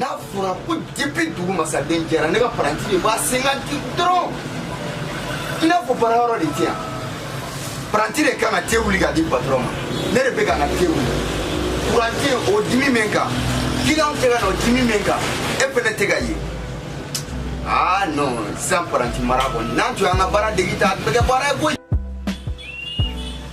n'a fɔra ko depuis dugu masaden jɛra ne ka paranti de b'a sen kan te dɔrɔn i n'a fɔ baara yɔrɔ de tɛ yan paranti de kan ka te wuli ka di patɔrɔn ma ne de bɛ ka na te wuli kuran tɛ o dimi bɛ n kan kiliyanw tɛ ka na o dimi bɛ n kan e fɛnɛ tɛ ka ye aa non sisan paranti mara kɔni n'an tun y'an ka baara degi ta a tun bɛ kɛ baara ye koyi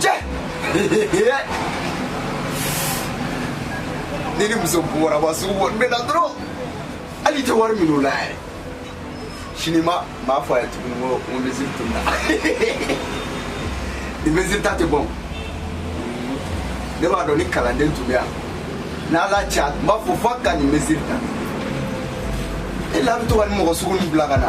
cɛ ne ni muso bɔraba sugu bɔ n bɛ na dɔrɔn hali i tɛ wari minɛ o la yɛrɛ sini ma n b'a fɔ a ye tuguni ko n ko misiri tununna nin misiri ta tɛ bɔn ne b'a dɔn ni kalanden tun bɛ yan n'ala cɛ a tun b'a fɔ f'a ka nin misiri ta e la bɛ to ka nin mɔgɔ sugu ninnu bila ka na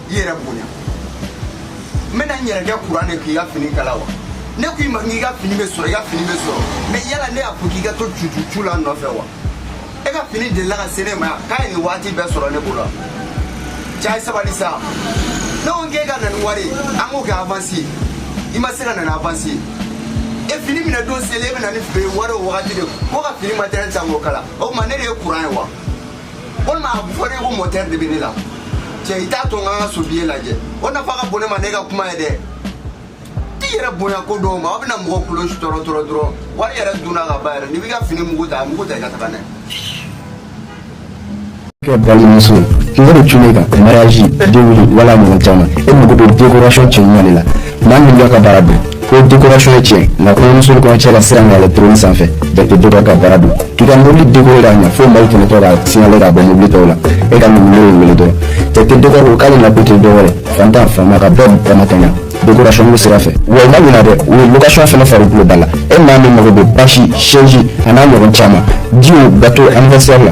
i yɛrɛ bonya n bɛna n yɛrɛ kɛ kuran ye k'i ka fini kala wa ne ko i ma k'i ka fini bɛ sɔrɔ i ka fini bɛ sɔrɔ mɛ yala ne y'a fɔ k'i ka to cucucu la nɔfɛ wa e ka fini delila ka se ne ma yan k'a ye nin waati bɛɛ sɔrɔ ne bolo cɛ ye sabali sa ne ko k'e ka na ni wari ye an k'o kɛ avansi ye i ma se ka na ni avansi ye e fini minɛ don seli e bɛ na ni wari o wagati de ko ka fini matɛrɛli ta k'o kala o tuma ne de ye kuran ye wa walima a fɔra ko mɔtɛri de bɛ ne la cɛ i t'a to n ka n ka sobiye lajɛ o nafa ka bon ne ma ne ka kuma ye dɛ t'i yɛrɛ bonya ko dɔw ma aw bɛna mɔgɔ kulo tɔɔrɔ tɔɔrɔ dɔrɔn wari yɛrɛ dunna ka ban yɛrɛ n'i b'i ka fini mugu ta mugu ta i ka taga n'a ye balimamuso kunko de tun bɛ ka mariage denkunli wala ɲɔgɔn caman e mago bɛ décoration cɛɲuman de la maa min b'a ka baara dɔn fo dekorasɔn ye cɛɲɛ nka kɔɲɔmuso ni kɔɲɔcɛ ka siran ka yɛlɛ trône sanfɛ bɛɛ tɛ dɔgɔ ka baara dɔn k'i ka mobili dekore k'a ɲɛ fo maaw tɛmɛtɔ ka signale k'a bɔ mobili tɔw la e ka numero in wele dɔrɔn jate dekɔri ko k'ale nakun tɛ dɔwɛrɛ fantan faama ka bɛɛ damakɛɲɛ dekorasɔn ko sira fɛ wa i ma ɲinɛ dɛ u ye lokasɔn fana fara tulo da la e maa min mago bɛ basi sɛji an'a ɲɔgɔn caman jiw gato anniversaire la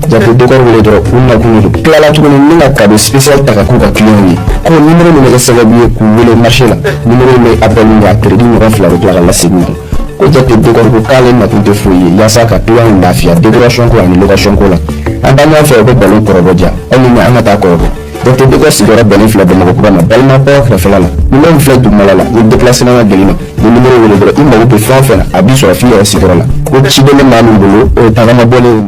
jate dekɔri wele dɔrɔn u nakun ye tilala tuguni ni ka kado spécial ta ka k'u ka kiliyanw ye ko nimero min bɛ kɛ sababu ye k'u wele marché la nimero in bɛ appel min kɛ a crédit ɲɔgɔn fila bɛ tila ka lasegin kan ko jate dekɔri ko k'ale nakun tɛ foyi ye yaasa ka kiliyanw lafiya décoration ko ani location ko la an balimaw fɛ u bɛ balo kɔrɔbɔ diya aw ni an ka taa kɔrɔbɔ Jate dekɔri sigiyɔrɔ bɛnnen filɛ bamakɔkura ma balima kɛrɛfɛ la nimero min filɛ duguma la ni déplacement ka gɛlɛn i ma nimero wele dɔrɔn i mako bɛ fɛn fɛn na a b'i sɔrɔ f'i yɛrɛ sigiyɔrɔ la ko ci bɛ ne maa min bolo o ye tagama bɔlen